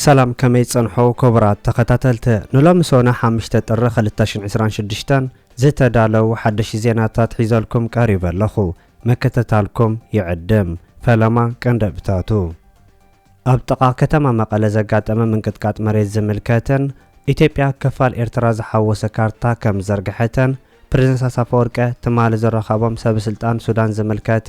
ሰላም ከመይ ጸንሖ ኮቡራት ተኸታተልቲ ንሎሚ ሶነ ሓምሽተ ጥሪ ክልተ ሽን ዕስራን ሽዱሽተን ዝተዳለው ሓደሽ ዜናታት ሒዘልኩም ቀሪበ ኣለኹ ምክትታልኩም ይዕድም ፈለማ ቀንደብታቱ ኣብ ጥቓ ከተማ መቐለ ዘጋጠመ ምንቅጥቃጥ መሬት ዝምልከትን ኢትዮጵያ ክፋል ኤርትራ ዝሓወሰ ካርታ ከም ዘርግሐተን ፕረዚደንት ኢሳያስ ኣፈወርቀ ትማሊ ዝረኸቦም ሰብስልጣን ሱዳን ዝምልከት፣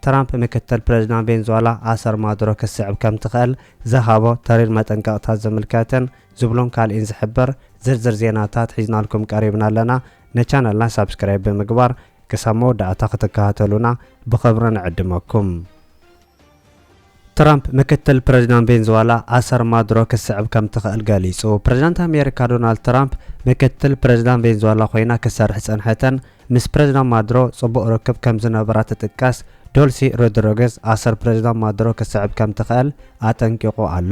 ትራምፕ ምክትል ፕረዚዳንት ቬንዙዋላ ኣሰር ማዱሮ ክትስዕብ ከምትኽእል ዝሃቦ ተሪር መጠንቀቕታ ዝምልከት ዝብሎን ካልእን ዝሕብር ዝርዝር ዜናታት ሒዝናልኩም ቀሪብና ኣለና። ንቻነልና ሳብስክራይብ ብምግባር ክሳብ መወዳእታ ክትከታተሉና ብኽብሪ ንዕድመኩም። ትራምፕ፣ ምክትል ፕረዚዳንት ቬንዙዋላ ኣሰር ማዱሮ ክትስዕብ ከም ትኽእል ገሊጹ። ፕረዚዳንት ኣሜሪካ ዶናልድ ትራምፕ፣ ምክትል ፕረዚዳንት ቬንዙዋላ ኮይና ክትሰርሕ ዝጸንሐተን ምስ ፕረዚዳንት ማዱሮ ጽቡቕ ርክብ ከም ዝነበራ ትጥቀስ ዶልሲ ሮድሪገዝ ኣሰር ፕረዚዳንት ማዱሮ ክትስዕብ ከም ትኽእል ኣጠንቂቑ ኣሎ።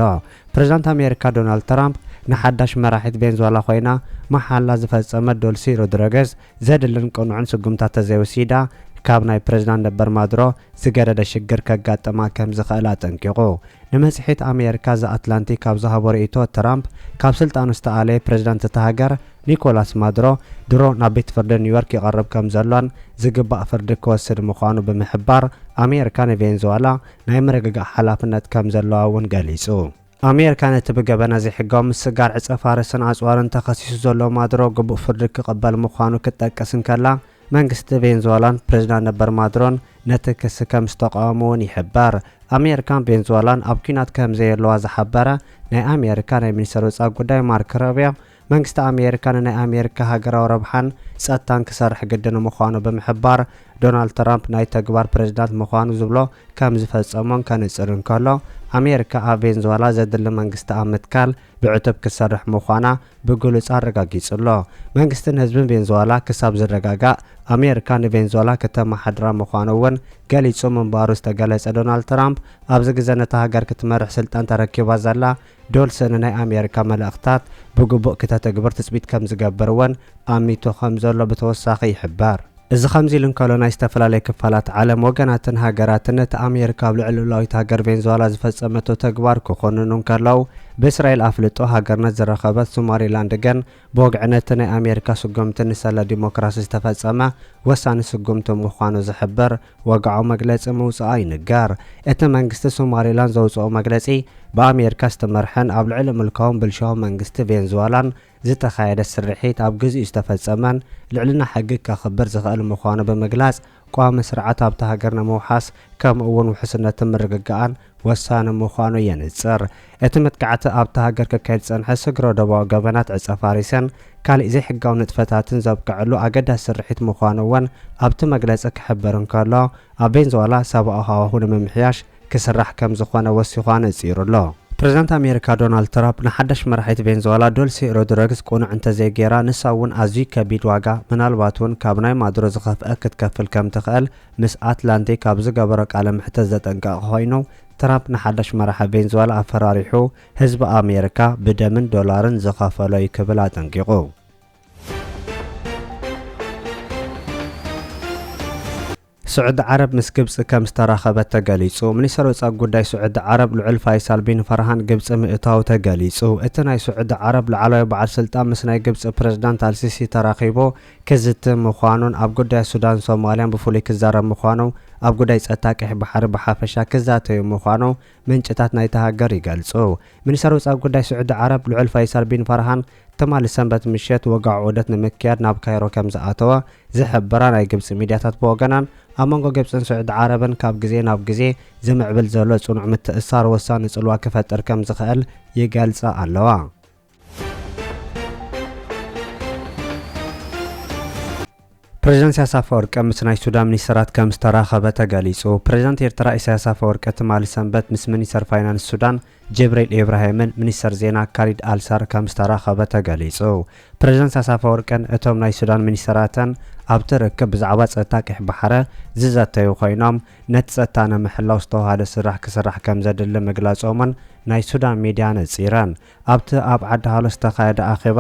ፕረዚዳንት ኣሜሪካ ዶናልድ ትራምፕ ንሓዳሽ መራሒት ቬንዙዋላ ኮይና መሓላ ዝፈጸመት ዶልሲ ሮድሪገዝ፣ ዘድልን ቅኑዕን ስጉምታት ተዘይወሲዳ ካብ ናይ ፕረዚዳንት ነበር ማዱሮ ዝገደደ ሽግር ከጋጥማ ከም ዝኽእል ኣጠንቂቑ። ንመጽሔት ኣመየርካ ዘ ኣትላንቲክ ኣብ ዝሃቦ ርእይቶ ትራምፕ ካብ ስልጣኑ ዝተኣለየ ፕረዚዳንት እታ ሃገር ኒኮላስ ማዱሮ ድሮ ናብ ቤት ፍርዲ ኒውዮርክ ይቐርብ ከም ዘሎን ዝግባእ ፍርዲ ክወስድ ምዃኑ ብምሕባር ኣመየርካ ንቬንዙዋላ ናይ ምርግጋእ ሓላፍነት ከም ዘለዋ እውን ገሊጹ። ኣሜሪካ ነቲ ብገበነ ዘይሕጋዊ ምስግጋር ዕጸፋርስን ኣጽዋርን ተኸሲሱ ዘሎ ማዱሮ ግቡእ ፍርዲ ክቕበል ምዃኑ ክትጠቅስ እንከላ፣ መንግስቲ ቬንዙዋላን ፕሬዝዳንት ነበር ማዱሮን ነቲ ክሲ ከምዝተቓወሙ'ውን ይሕበር። ኣሜሪካን ቬንዙዋላን ኣብ ኲናት ከምዘየለዋ ዝሓበረ ናይ ኣሜሪካ ናይ ሚኒስተር ወጻኢ ጉዳይ ማርክ ሮብዮ፣ መንግስቲ ኣሜሪካ ንናይ ኣሜሪካ ሃገራዊ ረብሓን ጸጥታን ክሰርሕ ግድን ምዃኑ ብምሕባር፣ ዶናልድ ትራምፕ ናይ ተግባር ፕሬዝዳንት ምዃኑ ዝብሎ ከም ዝፈጸሞን ከንጽር እንከሎ፣ ኣሜሪካ ኣብ ቬንዝዋላ ዘድሊ መንግስቲ ኣብ ምትካል ብዕቱብ ክትሰርሕ ምዃና ብግሉጽ ኣረጋጊጹ ኣሎ። መንግስትን ህዝብን ቬንዝዋላ ክሳብ ዝረጋጋእ ኣሜሪካ ንቬንዝዋላ ክተመሓድራ ምዃኑ'ውን ገሊጹ ምንባሩ ዝተገለጸ ዶናልድ ትራምፕ፣ ኣብዚ ግዘ ነታ ሃገር ክትመርሕ ስልጣን ተረኪባ ዘላ ዶልሰ ንናይ ኣሜሪካ መልእኽታት ብግቡእ ክተተግብር ትጽቢት ከም ዝገብር እውን ኣሚቱ ከም ዘሎ ብተወሳኺ ይሕበር። እዚ ከምዚ ኢሉ እንከሎ ናይ ዝተፈላለየ ክፋላት ዓለም ወገናትን ሃገራትን ነቲ ኣሜሪካ ኣብ ልዕሊ ልኡላዊት ሃገር ቬንዙዋላ ዝፈጸመቶ ተግባር ክኹንኑ እንከለው ብእስራኤል ኣፍልጦ ሃገርነት ዝረኸበት ሱማሪላንድ ግን ብወግዒ ነቲ ናይ ኣሜሪካ ስጉምቲ ንሰለ ዲሞክራሲ ዝተፈጸመ ወሳኒ ስጉምቲ ምዃኑ ዝሕብር ወግዓዊ መግለጺ ምውጽኣ ይንገር። እቲ መንግስቲ ሶማሊላንድ ዘውጽኦ መግለጺ፣ ብኣሜሪካ ዝተመርሐን ኣብ ልዕሊ ምልካውን ብልሽውን መንግስቲ ቬንዙዋላን ዝተኻየደ ስርሒት ኣብ ግዜኡ ዝተፈጸመን ልዕልና ሕጊ ከኽብር ዝኽእል ምዃኑ ብምግላጽ፣ ቋሚ ስርዓት ኣብታ ሃገር ንምውሓስ ከምኡ እውን ውሕስነትን ምርግጋኣን ወሳኒ ምዃኑ የንጽር። እቲ መጥቃዕቲ ኣብታ ሃገር ክካየድ ዝጸንሐ ስግረ-ዶባዊ ገበናት ዕጸ-ፋሪሰን ካልእ ዘይሕጋዊ ንጥፈታትን ዘብቀዐሉ ኣገዳሲ ስርሒት ምዃኑ እውን ኣብቲ መግለጺ ክሕብር እንከሎ፣ ኣብ ቬንዙዋላ ሰብኣዊ ሃዋሁ ንምምሕያሽ ክስራሕ ከም ዝኾነ ወሲኹ ኣነጺሩ ኣሎ። ፕረዚደንት ኣሜሪካ ዶናልድ ትራፕ ንሓዳሽ መራሒት ቬንዝዋላ ዶልሲ ሮድረግስ ቅኑዕ እንተዘይገይራ ንሳ እውን ኣዝዩ ከቢድ ዋጋ ምናልባት እውን ካብ ናይ ማዱሮ ዝኸፍኣ ክትከፍል ከም ትኽእል ምስ ኣትላንቲክ ኣብ ዝገበሮ ቃለ መሕተት ዘጠንቀቐ ኮይኑ ትራምፕ ንሓዳሽ መራሒ ቬንዝዋላ ኣፈራሪሑ ህዝቢ ኣሜሪካ ብደምን ዶላርን ዝኸፈሎ እዩ ክብል ኣጠንቂቑ። ስዑዲ ዓረብ ምስ ግብጺ ከም ዝተራኸበት ተገሊጹ። ሚኒስተር ወጻኢ ጉዳይ ስዑዲ ዓረብ ልዑል ፋይሳል ቢን ፈርሃን ግብጺ ምእታዉ ተገሊጹ። እቲ ናይ ስዑዲ ዓረብ ላዕለዋይ በዓል ስልጣን ምስ ናይ ግብጺ ፕረዚዳንት ኣልሲሲ ተራኺቡ ክዝቲ ምዃኑን ኣብ ጉዳያት ሱዳንን ሶማልያን ብፍሉይ ክዛረብ ምዃኑ ኣብ ጉዳይ ጸጥታ ቀይሕ ባሕሪ ብሓፈሻ ክዛተዩ ምዃኑ ምንጭታት ናይታ ሃገር ይገልጹ። ሚኒስተር ወጻኢ ጉዳይ ስዑዲ ዓረብ ልዑል ፈይሰል ቢን ፋርሃን ትማሊ ሰንበት ምሸት ወግዓዊ ዑደት ንምክያድ ናብ ካይሮ ከምዝኣተወ ዝሕብራ ናይ ግብጺ ሚድያታት ብወገናን ኣብ መንጎ ግብጽን ስዑዲ ዓረብን ካብ ግዜ ናብ ግዜ ዝምዕብል ዘሎ ጽኑዕ ምትእስሳር ወሳኒ ጽልዋ ክፈጥር ከምዝኽእል ይገልጻ ኣለዋ። ፕሬዚዳንት ኢሳያስ ኣፈወርቂ ምስ ናይ ሱዳን ሚኒስተራት ከም ዝተራኸበ ተገሊጹ። ፕሬዚዳንት ኤርትራ ኢሳያስ ኣፈወርቂ ትማሊ ሰንበት ምስ ሚኒስተር ፋይናንስ ሱዳን ጀብሬል ኢብራሂምን ሚኒስተር ዜና ካሊድ ኣልሳር ከም ዝተራኸበ ተገሊጹ። ፕሬዚዳንት ኢሳያስ ኣፈወርቅን እቶም ናይ ሱዳን ሚኒስተራትን ኣብቲ ርክብ ብዛዕባ ጸጥታ ቀይሕ ባሕረ ዝዘተዩ ኮይኖም ነቲ ጸጥታ ንምሕላው ዝተውሃደ ስራሕ ክስራሕ ከም ዘድሊ ምግላጾምን ናይ ሱዳን ሚድያ ነጺረን። ኣብቲ ኣብ ዓዲ ሃሎ ዝተኻየደ ኣኼባ፣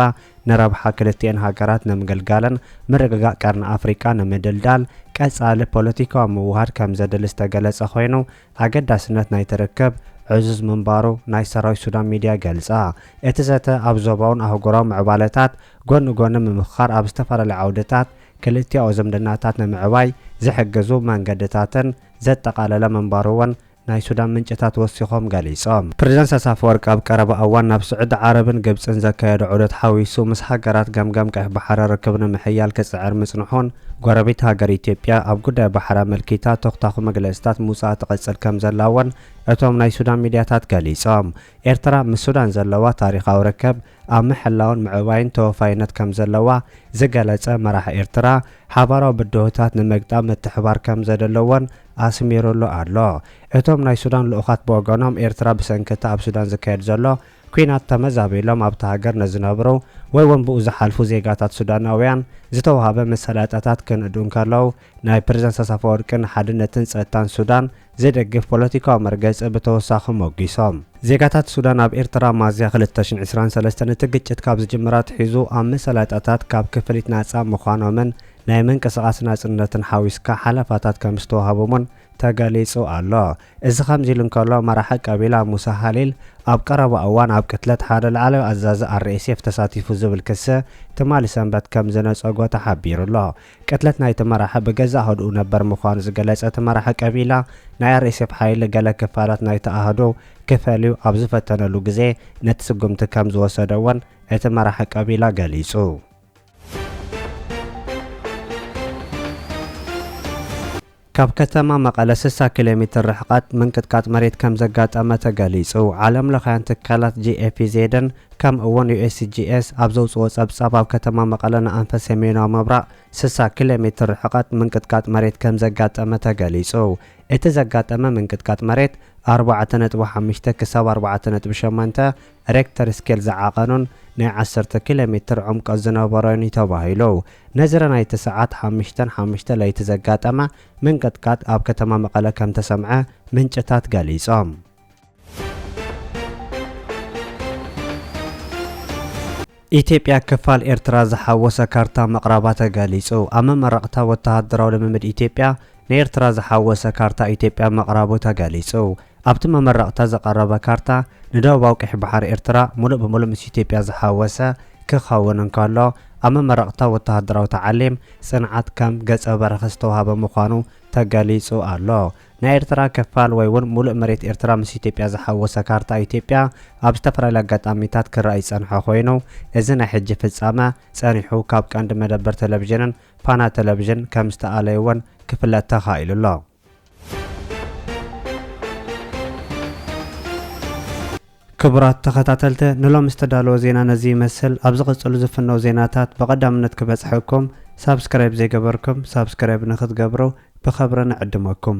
ንረብሓ ክልቲኤን ሃገራት ንምግልጋልን ምርግጋእ ቀርኒ ኣፍሪቃ ንምድልዳል ቀጻሊ ፖለቲካዊ ምውህሃድ ከምዘድሊ ዝተገለጸ ኮይኑ፣ ኣገዳስነት ናይቲ ርክብ ዕዙዝ ምንባሩ ናይ ሰራዊት ሱዳን ሚድያ ገልጻ። እቲ ዘተ ኣብ ዞባውን ኣህጉራውን ምዕባለታት ጎኒ ጎኒ ምምኽኻር ኣብ ዝተፈላለዩ ዓውድታት ክልቲኣዊ ዝምድናታት ንምዕባይ ዝሕግዙ መንገድታትን ዘጠቓለለ ምንባሩ'ውን ናይ ሱዳን ምንጭታት ወሲኾም ገሊጾም። ፕረዚደንት ኢሳያስ ኣፈወርቂ ኣብ ቀረባ እዋን ናብ ስዑዲ ዓረብን ግብጽን ዘካየዶ ዑደት ሓዊሱ ምስ ሃገራት ገምጋም ቀይሕ ባሕሪ ርክብ ንምሕያል ክጽዕር ምጽንሑን፣ ጎረቤት ሃገር ኢትዮጵያ ኣብ ጉዳይ ባሕሪ ኣመልኪታ ተኹታዂ መግለጺታት ምውጻኣ ትቕጽል ከምዘላ'ውን እቶም ናይ ሱዳን ሚድያታት ገሊጾም። ኤርትራ ምስ ሱዳን ዘለዋ ታሪኻዊ ርክብ፣ ኣብ ምሕላውን ምዕባይን ተወፋይነት ከምዘለዋ ዝገለጸ መራሒ ኤርትራ፣ ሓባራዊ ብድሆታት ንምግጣም ምትሕባር ከምዘደለዎን ኣስሚሩሉ ኣሎ። እቶም ናይ ሱዳን ልኡኻት ብወገኖም፣ ኤርትራ ብሰንኪ እቲ ኣብ ሱዳን ዝካየድ ዘሎ ኲናት ተመዛቢሎም ኣብታ ሃገር ንዝነብሩ ወይ'ውን ብኡ ዝሓልፉ ዜጋታት ሱዳናውያን ዝተውሃበ መሳለጥያታት ክንእዱ እንከለው፣ ናይ ፕረዚደንት ኢሳያስ ኣፈወርቂ ንሓድነትን ጸጥታን ሱዳን ዘይደግፍ ፖለቲካዊ መርገጺ ብተወሳኺ ሞጊሶም። ዜጋታት ሱዳን ኣብ ኤርትራ ሚያዝያ ክልተ ሽሕን ዕስራን ሰለስተን እቲ ግጭት ካብ ዝጅምር ኣትሒዙ ኣብ መሳለጥያታት ካብ ክፍሊት ናጻ ምዃኖምን ናይ ምንቅስቓስ ናጽነትን ሓዊስካ ሓለፋታት ከምዝተዋህቦምን ተገሊጹ ኣሎ። እዚ ከምዚሉ እንከሎ መራሒ ቀቢላ ሙሳ ሃሊል ኣብ ቀረባ እዋን ኣብ ቅትለት ሓደ ላዕለዋይ ኣዛዚ RSF ተሳቲፉ ዝብል ክሲ ትማሊ ሰንበት ከምዝነጸጎ ተሓቢሩ'ሎ። ቅትለት ናይቲ መራሒ ብገዛእ ኣሃዱኡ ነበር ምዃኑ ዝገለጸ እቲ መራሒ ቀቢላ፣ ናይ ኣርኤስኤፍ ሓይሊ ገለ ክፋላት ናይቲ ኣሃዱ ክፈልዩ ኣብ ዝፈተነሉ ግዜ ነቲ ስጉምቲ ከም ዝወሰደ'ውን እቲ መራሒ ቀቢላ ገሊጹ። ካብ ከተማ መቐለ ስሳ ኪሎ ሜትር ርሕቐት ምንቅጥቃጥ መሬት ከምዘጋጠመ ተገሊፁ። ዓለም ለኻውያን ትካላት ጂኤፒዜድን ከምኡ እውን ዩኤስጂኤስ ኣብ ዘውፅኦ ፀብፃብ ኣብ ከተማ መቐለ ንኣንፈት ሰሜናዊ ምብራቕ ስሳ ኪሎ ሜትር ርሕቐት ምንቅጥቃጥ መሬት ከምዘጋጠመ ተገሊፁ። እቲ ዘጋጠመ ምንቅጥቃጥ መሬት ኣርባዕተ ነጥቢ ሓሙሽተ ክሳብ ኣርባዕተ ነጥቢ ሸሞንተ ሬክተር ስኬል ዝዓቐኖን ናይ ዓሰርተ ኪሎ ሜትር ዑምቀት ዝነበሮን እዩ ተባሂሉ። ነዝረ ናይቲ ሰዓት ሓምሽተን ሓምሽተ ለይቲ ዘጋጠመ ምንቅጥቃጥ ኣብ ከተማ መቐለ ከምተሰምዐ ምንጭታት ገሊፆም። ኢትዮጵያ ክፋል ኤርትራ ዝሓወሰ ካርታ ምቕራባ ተገሊጹ። ኣብ መመረቕታ ወተሃደራዊ ልምምድ ኢትዮጵያ ንኤርትራ ዝሓወሰ ካርታ ኢትዮጵያ ምቕራቡ ተገሊጹ። ኣብቲ መመረቕታ ዝቐረበ ካርታ ንደቡባዊ ቀይሕ ባሕሪ ኤርትራ ምሉእ ብምሉእ ምስ ኢትዮጵያ ዝሓወሰ ክኸውን እንከሎ፣ ኣብ መመረቕታ ወተሃደራዊ ተዓሊም ጽንዓት ከም ገጸ በረከት ዝተዋህበ ምዃኑ ተገሊጹ ኣሎ። ናይ ኤርትራ ክፋል ወይ ውን ሙሉእ መሬት ኤርትራ ምስ ኢትዮጵያ ዝሓወሰ ካርታ ኢትዮጵያ ኣብ ዝተፈላለየ ኣጋጣሚታት ክረኣ ይጸንሖ ኮይኑ እዚ ናይ ሕጂ ፍጻመ ጸኒሑ ካብ ቀንዲ መደበር ተለቪዥንን ፋና ተለቪዥን ከም ዝተኣለዩ ውን ክፍለጥ ተኻኢሉ ኣሎ። ክቡራት ተኸታተልተ ንሎሚ ዝተዳለወ ዜና ነዚ ይመስል ኣብ ዝቕጽሉ ዝፍነው ዜናታት ብቐዳምነት ክበጽሐኩም ሳብስክራይብ ዘይገበርኩም ሳብስክራይብ ንኽትገብሩ ብኸብሪ ንዕድመኩም።